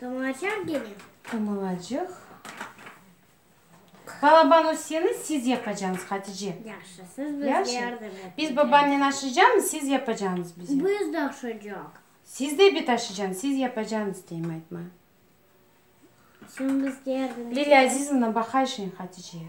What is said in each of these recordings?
Tamılacaq gene. Tamılacaq. Balaban Üseni siz yapacağıñız, Hatice. Yahşı, siz bizge yardım eteceñiz. Biz babamnen aşıcamız, siz yapacağıñız bize. Biz de aşıcaq. Siz de bit aşıcamız, siz yapacağıñız deyim, aytma. Sen bizge yardım eteceñ. Lilâ Azizovna, baqayşıñ Haticeye.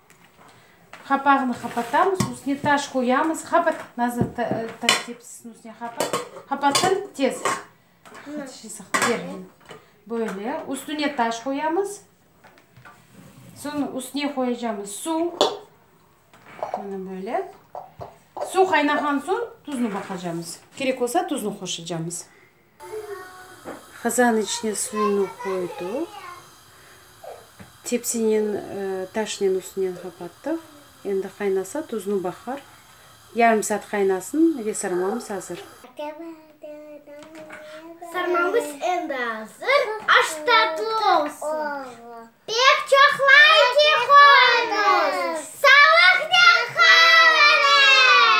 Qapağını qapatamız, üstüne taş qoyamız. Qapat, nazır tepsisiniñ üstüne qapat. Qapatsana tez. Böyle, üstüne taş qoyamız. Soñra üstüne qoyacağımız suv. Mına böyle. Suv qaynağan soñ, tuzunu baqacağımız. Kerek olsa, tuzunu qoşacağımız. Qazan içine suyunı qoydıq. Tepsinen, taşnen üstünden qapattıq. Endi qaynasa, tuzunı baqar. Yarım saat qaynasın ve sarmamız azır. Sarmamız endi azır. Aş tatlı olsun. Pek çoq layki qoyuñız. Sağlıqnen qal, ene!